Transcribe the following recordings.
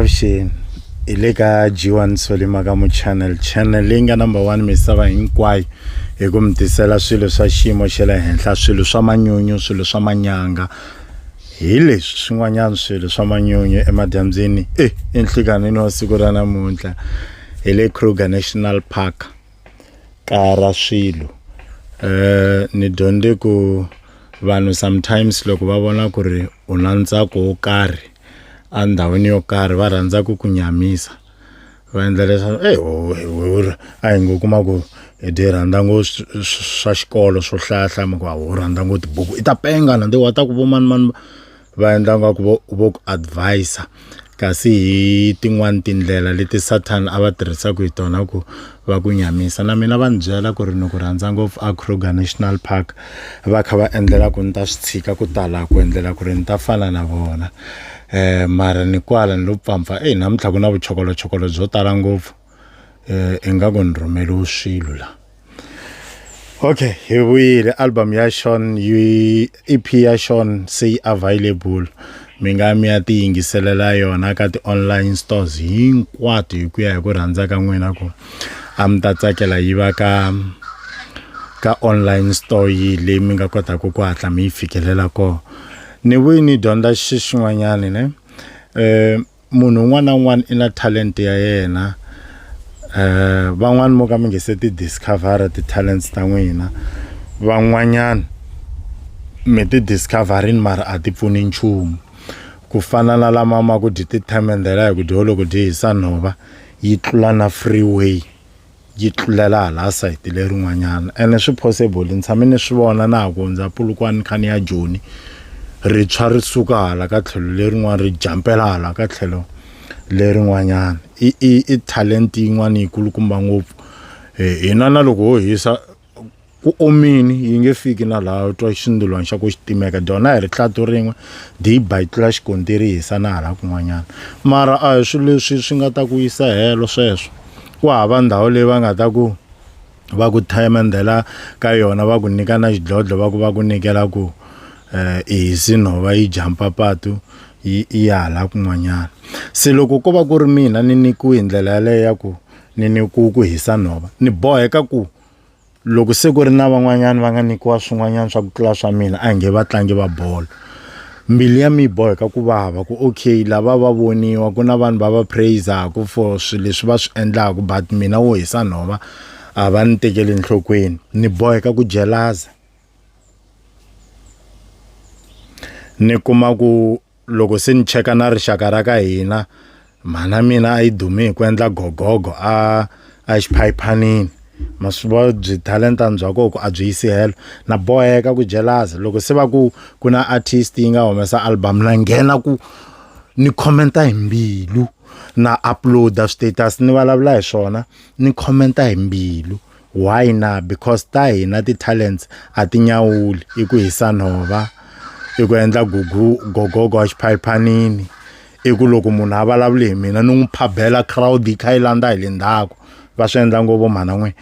avuxeni hi le ka g1 solima ka mu channel channel leyi nga number one misava hinkwayo hi ku mi tisela swilo swa xiyimo xa le henhla swilo swa manyunyu swilo swa manyanga hi leswi swin'wanyana swilo swa manyunyu emadyambyini e enhlikanini wa siku ra namuntlha hi le kruger national park kara swilo eh ni dyondze ku vanhu sometimes loko va vona ku ri u na ntsako wo karhi endhawini yo karhi va rhandza ku ku nyamisa va endla leswaku eyi wewewe a hi ngo kuma ku hi dyi rhandza ngo swa xikolo swo hlayahlaya mi ku a wu rhandza ngo tibuku i ta penga na de wa ta ku vo mani mani va endla nga ku vo vo ku advise kasi hi tin'wani tindlela leti Satan a va tirhisaku hi tona ku va ku nyamisa na mina va ni byela ku ri ni ku rhandza ngopfu a Kruger National Park va kha va endlela ku ni ta swi tshika ku ta la ku endlela ku ri ni ta fana na vona um mara ni kwala ni lo pfampfa eyi namuntlha ku na vuchokolochokolo byo tala ngopfu. eh ingaku ni rhumeliwe swilo la okay hi vuyile album ya Sean yi EP ya Sean se yi available mi nga mi ya ti yingiselela yona ka ti-online stores hinkwato hi ku ya hi ku rhandza ka n'wina ku a mi ta tsakela yi va ka ka online store yi leyi mi nga kotaka ku hatla mi yi fikelela kona ni vuyi ni dyondza xi xin'wanyani ne um munhu un'wana na un'wana i na talent ya yena eh van'wana mo ka mi nge se ti discover ti-talents ta n'wina van'wanyana mi ti discoverini mara a ti pfuni nchumu ku fana na lama ma ku dyi ti-time and the like dyi holoko dyi hisa nhova yi tlula na freeway yi tlulela hala sayiti lerin'wanyana ene swi possible ni tshame ni swi vona na ha ku hundza pulukwani kha ni ya joni ri tshwa ri suka hala ka tlhelo lerin'wana ri jampela hala ka tlhelo lerin'wanyana i i i talent yin'wana yi kulukumba ngopfu hina na loko ho hisa ku omini yi nge fiki na laha u twa xindulwani xa ku xi timeka dyona hi ri tlatu rin'we di yi ba yi tlula xikontiri yi hisa na hala kun'wanyana mara a hi swilo leswi swi nga ta ku yisa helo sweswo ku hava ndhawu leyi va nga ta ku va ku thayimendela ka yona va ku nyika na xidlodlo va ku va ku nyikela ku um i hisi nhova yi jampa patu yi ya hala kun'wanyana se loko ko va ku ri mina ni nikiwe hi ndlela yaleyo ya ku ni ni ku ku hisa nhova ni boheka ku loko se ku ri na van'wanyana va nga nyikiwa swin'wanyana swa ku tlula swa mina a hi nge vatlangi va bolo mbilu ya mi yi boheka ku vava ku okay lava va voniwa ku na vanhu va va praisaku for swilo leswi va swi endlaku but mina wo hisa nhova a va ni tekeli enhlokweni ni boheka ku jelaza ni kuma ku loko se ni cheka na rixaka ra ka hina mhana mina a yi dume hi ku endla gogogo a a xiphayiphanini ma swi vona byi talenta bya kona ku a byi yisi helo na boheka ku jeleza loko se va ku ku na artist yi nga humesa album na nghena ku ni khomenta hi mbilu na upload-a status ni vulavula hi swona ni khomenta hi mbilu. Why na? Because ta hina ti-talents a ti nyawuli i ku hisa nhova i ku endla gugu gogogo wa xiphayiphanini i ku loko munhu a vulavuli hi mina ni n'wi phabela crowd yi kha yi landza hi le ndzhaku va swi endla ngopfu mhana n'we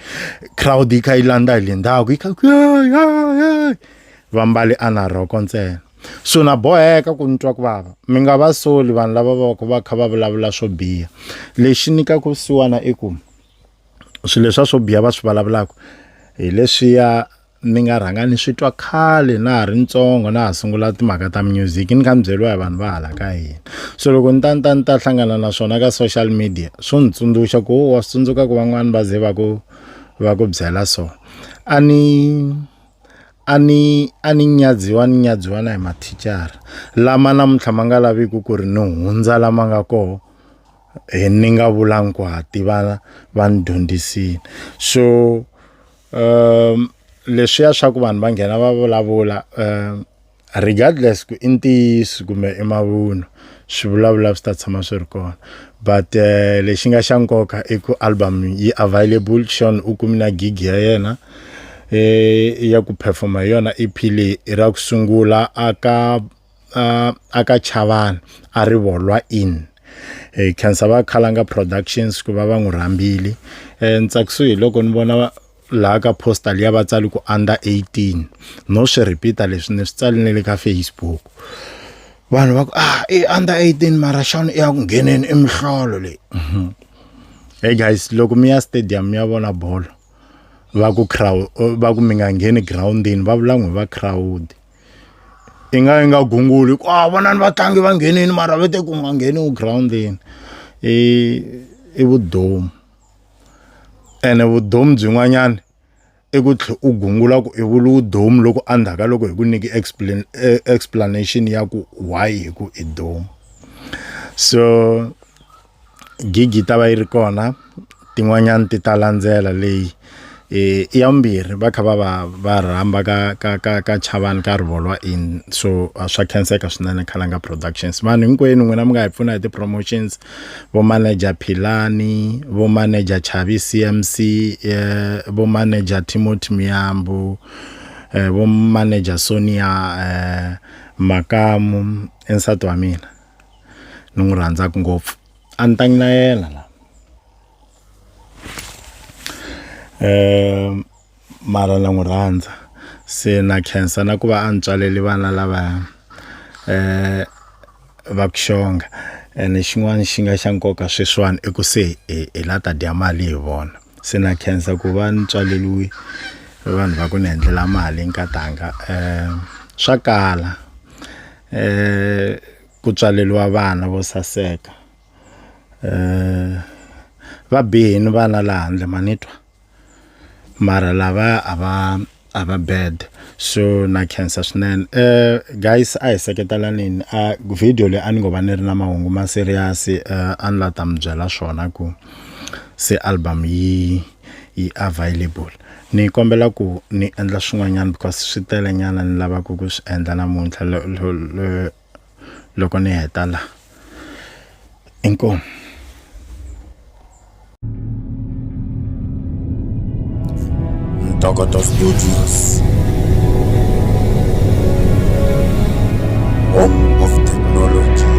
crowd yi kha yi landza hi le ndzhaku yi kha va mbale a na rhoko ntsena so na boheka ku ni twa ku vava mi nga va soli vanhu lava va ku va kha va vulavula swo biha lexi nyikaka vusiwana i ku swilo leswa swo biha va swi vulavulaka hi leswiya ni nga rhanga ni swi twa khale na ha ri ntsongo na ha sungula timhaka ta music ni kha ni byeriwa hi vanhu va hala ka hina so loko ni ta ni ta ni ta hlangana na swona ka social media swo ni tsundzuxa ku wa swi tsundzuka ku van'wani va ze va ku va ku byela so a ni a ni a ni nyadziwa ni nyadziwa na hi mathicara lama namuntlha ma nga laviki ku ri ni hundza lama nga kona hi ni nga vulanga ku ha tivana va ni dyondzisile so um leswiya swa ku vanhu va nghena va vulavula um regardless ku i ntiyiso kumbe i mavunwa swivulavula swi ta tshama swi ri kona but um lexi nga xa nkoka i ku album yi available xon u kumi na gig ya yena um ya ku perform-a hi yona E_P leyi i ra ku sungula aka uh, aka chavani a ri volwa in e khensa va khalanga productions ku va va n'wi rhambile um ntsakisi hi loko ni vona laha ka postal ya vatsali ku under 18 no swi repeata leswi ni swi tsali ni le ka facebook vanhu va ku ah i under 18 mara xana i ya ku ngheneni imihlolo leyi mhm. hey guys loko mi ya stadium mi ya vona bolo va ku crowd va ku mi nga ngheni groundini va vula n'wi va crowd i nga yi nga gunguli ku a vonani vatlangi va nghenini mara va te ku nga ngheniwi girawundini i i vudomu ene vudomu byin'wanyana i ku tlhe u gungula ku i vula domu loko endzhaku ka loko hi ku nyiki explain e, explanation ya ku why hi ku i domu so gigi yi ta va yi ri kona tin'wanyani ti ta landzela leyi i ya vumbirhi va kha va va va rhamba ka ka ka ka chavani ka rivolwa in so a swa khenseka swinene khalanga productions vanhu hinkwenu n'wina mi nga hi pfuna hi ti-promotions vo manager philani vo manager chavi C_M_C vo manager Timothy Muyambu vo manager Sonia Makamu i nsati wa mina. ni n'wi rhandzaka ngopfu a ni ta na yena la um mara na n'wi rhandza se na khensa na ku va a ni tswaleli vana lavaya um va ku xonga ene xin'wana xi nga xa nkoka sweswiwani i ku se hi la ta dya mali hi vona se na khensa ku va ni tswaleliwi vanhu va ku ni endlela mali nkatanga um swa kala eh ku tswaleliwa vana vo saseka eh va bihini vana la handle manitwa mara lava a va a va bad so na khensa swinene eh guys a hi seketelanini a video leyi a ni ngo va ni ri na mahungu ma serious eh, a ni la ta mi byela swona ku se album yi yi available ni kombela ku ni endla swin'wanyana because swi tele nyana ni lavaka ku swi endla namuntlha loko ni heta la inkomu ntokoto studios home of technology